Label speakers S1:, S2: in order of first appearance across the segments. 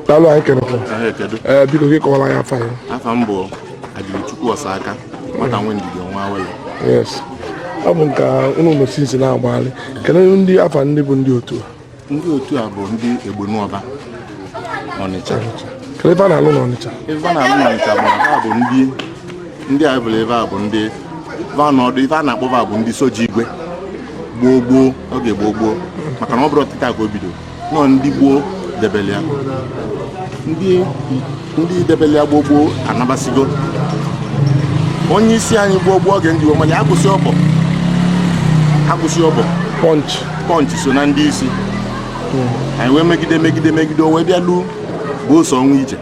S1: daalụ anyị kenekwa ee biko gị kọwara ya afa ya afa m bụ Adịchukwu Ọsaka nwata nwe ndidi ọnwa awele yes ọ bụ nke unu nọ since na-agbagharị kedu ndị afa ndị bụ ndị otu a ndị otu a bụ ndị Egbunọba Ọnịcha ife fa na-alụ n'Ọnịcha ife fa na-alụ n'Ọnịcha bụ ha bụ ndị ndị a bụla ife fa bụ ndị vanọdụ ife a na-akpọ fa bụ ndị soja igwe gboo gboo oge gboo gboo maka na ọ bụrọ tata ka o bido nọ ndị gboo debele ya ndị ndị debele ya gboo gboo anabasigo onye isi anyị gboo gboo oge ndị Igbo mana ya kwụsị ọbọ akwụsị ọbọ pọnch pọnch so na ndị isi anyị wee megide megide megide o wee bịa luo bụ ose ọnwa ije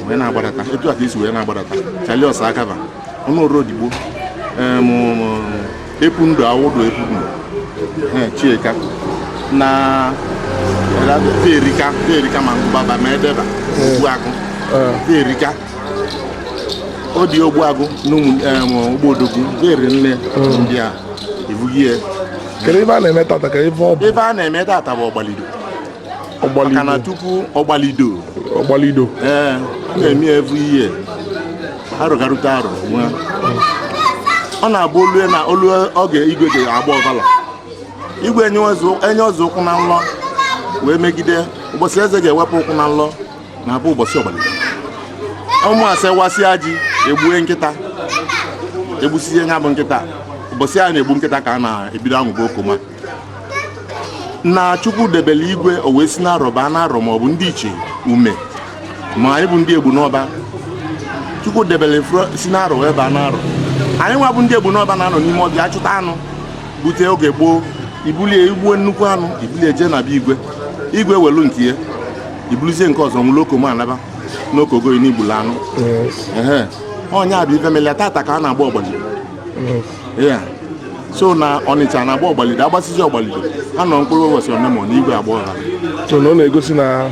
S1: wee na-agbadata etu a ka e si wee na-agbadata Charlie Ọsaka ba Ọnụọra Odigbo Epundu Awudu Epundu chieka na erika erika ma baba ma edeba ogbuagụ erika ọ dị ogbuagụ n'ụmụogbodogu eri nne ndị a ebughị ya kedu ife a na-eme tata kee ife ọ bụ ife a na-eme tata bụ ọgbalido maka na tupu ọgbalido ọgbalido ee a na-eme every year arọ garute arọ nwa ọ na-abụ o lue na o lu oge igwe ji agba ọfala igwe enyezi ụkwụ na nlọ wee megide ụbọchị eze ga-ewepụ ụkwụ na nlọ na-abụ ụbọchị ọgbalido ụmụ ase wasịa ji egbue nkịta egbusizie nya bụ nkịta ụbọchị a na-egbu nkịta ka a na-ebido anwụba okoma na chukwu debere igwe o wee si n'arọ baa n'arọ ma ọ bụ ndị ichie ume ma anyị bụ ndị egbunọba chukwu debere si n'arọ wee baa n'arọ anyị nwa bụ ndị egbunọba na-anọ n'ime ọfịa achụta anụ bute oge gboo i bulie i gbuo nnukwu anụ i bulie jee na be igwe igwe welu nke ya i buluzie nke ọzọ nwụrụ okomo anaba n'okogoyi na i gbulu anụ ọ ya bụ ife melia tata ka a na-agba ọgbalido ya so na ọnịcha na-agba ọgbalido agbasizi ọgbalido ha nọ mkpụrụ ụbọchị onemone igwe agba ọfala so na ọ na-egosi na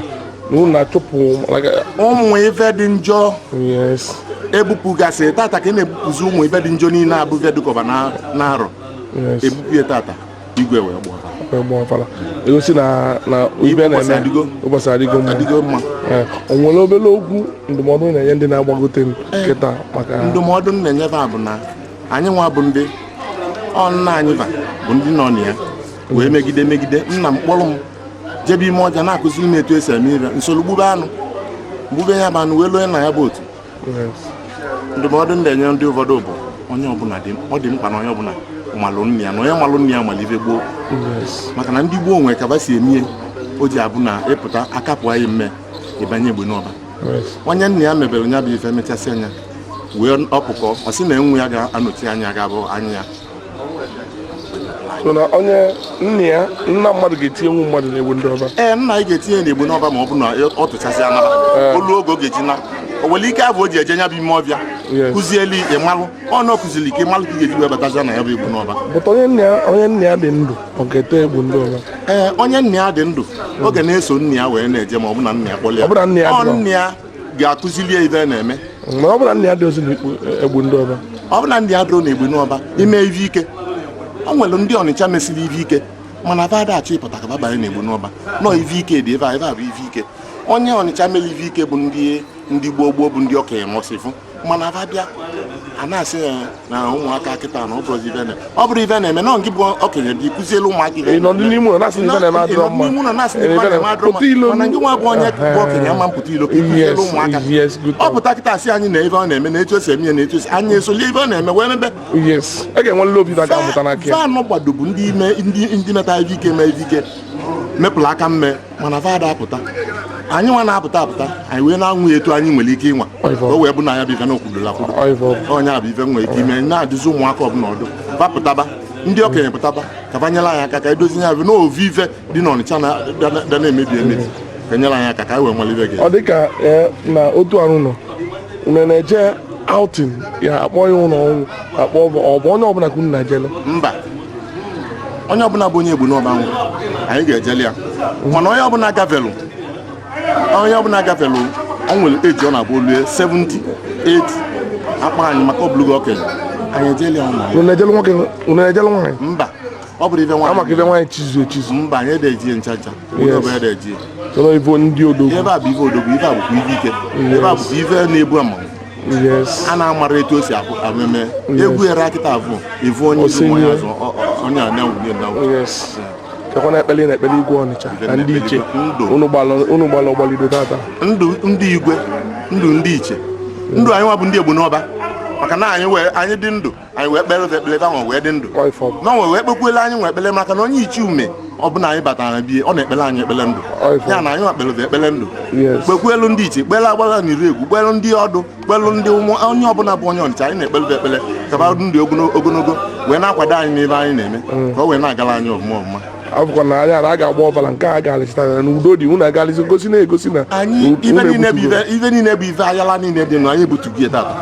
S1: na unu na-achụpụ like, ụmụ ife dị njọ yes ebupụgasị tata ka a na-ebupụzi ụmụ ife dị njọ niile bụ ife dịkọba na- n'arọ yes ebupụ ya tata igwe wee gba ọfala agba ọfala egosi na na ibe Ụbọchị na-eme adịgo. ụbọchị adịgo mma adịgo mma Ee, o nwere obere okwu ndụmọdụ ị na-enye ndị na-agbagote kịta maka ndụmọdụ m na-enye ha bụ na anyị nwa bụ ndị ọ nna anyị va bụ ndị nọ na ya wee megide megide nna m kpọrọ m jebe ime ọvịa na-akụziri m etu esi eme ive m soro gbube anụ gbube ya bụ anụ wee luo na ya bụ otu ndụmọdụ ndị enye ndị ụfọdụ bụ onye ọbụla dị ọ dị mkpa na onye ọbụla malụ nna ya na onye malụ nna ya mara ive gboo maka na ndị gboo nwere ka va si eme ya o ji abụ na ịpụta aka pụa gị mme ị banye egbe n'ọba onye nna ya mebere nya bụ ife mechasịa ya wee ọkpụkọ ọ sị na nwa ya ga-anọchi anya ga-abụ anya ya so na onye nna ya nna mmadụ ga-etinyenwu mmadụ n'egbu n'ọba ee nna anyị ga-etinye n'egbu n'ọba ma ọ bụ na ọ tụchasị anaba o luo oge ọ ga-eji na o nwere ike abụ o ji eje nya bụ ime ọvịa kụzielu ịmalụ ọ na ọ kụziri ike ịmalụ ka ị ga-eji wee bataza na ya bụ egbu n'ọba bụta onye nna ya dị ndụ ee onye nna ya dị ndụ ọ ga na-eso nna ya wee na-eje ma ọ bụ na nna ya kpọlụ ya ọ nna ya ga-akụzili ya ive na-eme ọ bụ na nna ya adịrọzi na egbu n'ọba ọ bụ na nna ya adịrọ na egbu n'ọba ime ive ike ọ nwere ndị ọnịcha mesịrị ive ike mana va adachọ ịpụta ka va banye na egbu n'ọba nọ ive ike dị ebe a ive a bụ ive ike onye ọnịcha mere ive ike bụ ndị ndị gboo gboo bụ ndị okenye mọsịfụ mana va bịa na-asị ya na ụmụaka kịta na ọ bụrụ ive na ọ bụrụ ive na-eme na nke bụ okenye dị kụzielu ụmụaka ive nọ n'ime ụlọ na-asị ive na-eme adịrọ mma nọ na-asị ive na-eme adịrọ mma mana nke nwa bụ onye bụ okenye ama apụta ilo kụzielu ụmụaka ọ pụta kịta asị anyị na ive ọ na-eme na etu esi eme ya na etu esi anyị esoli ive ọ na-eme wee mebe va gbado bụ ndị ime ndị metara ive mee ive mepụrụ aka mme mana va ada apụta anyị nwa na-apụta apụta anyị wee na-anwa ya etu anyị nwere ike ịnwa ka o wee bụ na ya bụ ife na okwudola kwudo onye a bụ ife nwere ike ime na-adụzi ụmụaka ọbụla ọdụ va pụtaba ndị okenye pụtaba ka va nyere anyị aka ka edozi ya bụ ovu ife dị n'ọnịcha na-abịa na-emebi emebi ka nyere anyị aka ka anyị wee nwere ife gị ọ dịka eh, na otu arụ nọ unu na-eje outing ya akpọ ya ụlọ ọnwụ ka ọ bụ onye ọbụla ka unu na-ejeli mba onye ọbụla bụ onye egbu n'ọba nwụ anyị ga-ejeli ya mana onye ọbụla gafelu onye ọbụla gafelu ọ nwere age ọ na-abụ o lue 70 80 akpọ anyị maka ọ bụlụgo okenye anyị ejeli ya ụmụ anyị. unu ejelu nwoke unu ejelu nwaanyị mba ọ bụrụ ife ama ka nwaanyị ive nwaanyị chizu echizu mba anyị adeje ncha ncha onye Yes. ọbụla adeje chọrọ ibo ndị odogwu ive a bụ ife odogwu ife a bụkwa ife ike ive a bụkwa ife na-ebu ama a na-amara etu o si ameme ewu ara nkịta bụ ivu onye isi mmụọ ya azụ onye a na-enwunye na kekwana ekpele na-ekpele igwe ọnịcha na ndị iche unu gbalụ ọgbalido tata ndụ ndị igwe ndụ ndị iche ndụ anyị nwa bụ ndị egbu n'ọba maka na anyị nwa anyị dị ndụ anyị wee kpelu fa ekpele fa nwa wee dị ndụ fa nwa wee kpekwuelu anyị nwa ekpele maka na onye ichie ume ọbụna anyị batara be ya ọ na-ekpelu anyị ekpele ndụ ya na anyị nwa kpelu fa ekpele ndụ kpekwuelu ndị ichie kpelu agbala na iregwu kpelu ndị ọdụ kpelu ndị ụmụ onye ọbụna bụ onye ọnịcha anyị na-ekpelu fa ekpele ka fa dị ndụ ogonogo wee na-akwado anyị n'ife anyị na-eme mm. ka o wee na-agalụ anyị ọfụma ọfụma afụkwa na anya na a ga-agba ọvala nke a ga-alịsịta ya na udo dị unu agalịsị gosi na-egosi na anyị unu ife niile bụ ebutugo. ife ife niile bụ ife ayala niile dị nụ anyị ebutugo ya tata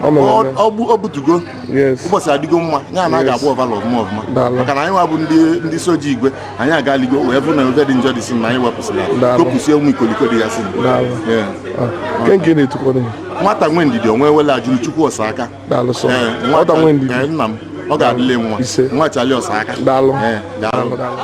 S1: Ọ nọ Ọ- na- ọ bụ- ọ butugo Yes. ụbọchị adịgo mma ya na a ga-agba ọvala ọfụma ọfụma Daalụ. maka na anyị nwa bụ ndị ndị soja igwe anyị agaligo wee fụ na ife dị njọ dịsị na anyị wepụsịrị ya Daalụ. kopụsie ụmụ ikoliko dị ya si Daalụ. Yeah. Ah, nke nke na-etukwa dị m. nwata nwe ndidi onwe wele ajụrụ chukwu ọsa aka daalụ sọ Ee, nwata nwe ndidi ee, nna m ọ ga-adịlị nwa Ise. nwa chali ọsa aka daalụ Ee, daalụ daalụ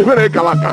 S1: Ebere kala aka.